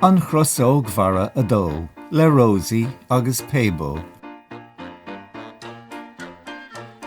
An Chrosóg Mhara a dó, le Rosie agus Paybo.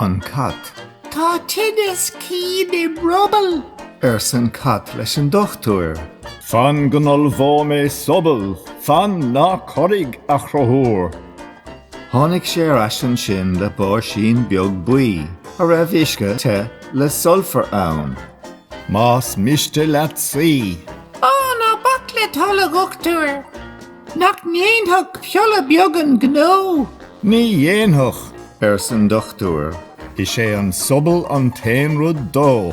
An Cat. Tá tinneas cinn im ruball! arsa an Cat leis an dochtúir. Fan go n-ollmhóidh mé sobal! Fan, ná corraigh, a Chruthúir! Tháinig sé ar ais ansin le báisín beag buí a raibh uisce te le sulfar ann. Más miste leat suí. Ó, ná bac le tholg, a dhochtúir! Nach ndéanfadh piolla beag an gnó? Ní dhéanfadh, arsa an dochtúir. Is é an sobal an t-aon rud dó.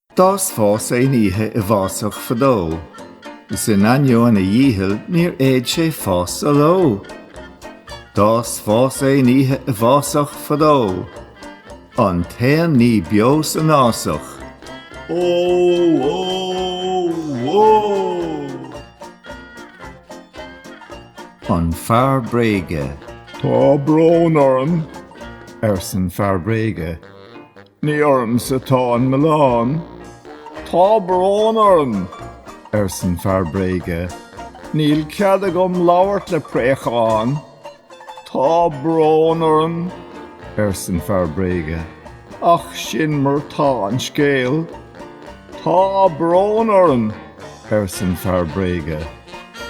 D'fhás fás aon oíche i bhfásach fadó, Is in ainneoin a dhícheall níor fhéad sé fás sa ló. D'fhás fás aon oíche i bhfásach fadó, An t-aon ní beo san fhásach, ó! An Fear Bréige. Tá brón orm, arsan Fear Bréige. Ní ormsa atá an milleán. Tá brón orm, arsan fear bréige, níl cead agam labhairt le préachán. Tá brón orm, arsan fear bréige, ach sin mar tá an scéal. Tá brón orm, arsan fear bréige,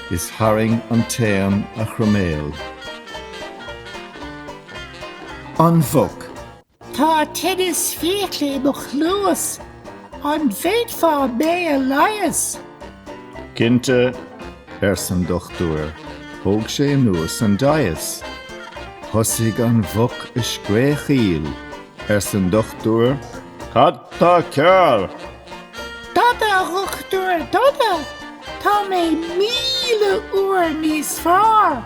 is tharraing an t-éan a chroiméal. An Mhuc. Tá tinneas fiacla i mo chluas, an bhféadfá mé a leigheas? Cinnte, arsan dochtúir. Thóg sé anuas an deimheas. Thosaigh an mhuc ag scréachaíl. Arsan dochtúir, Cad tá cearr? Dada, a dhochtúir, dada! Tá mé míle uair níos fearr!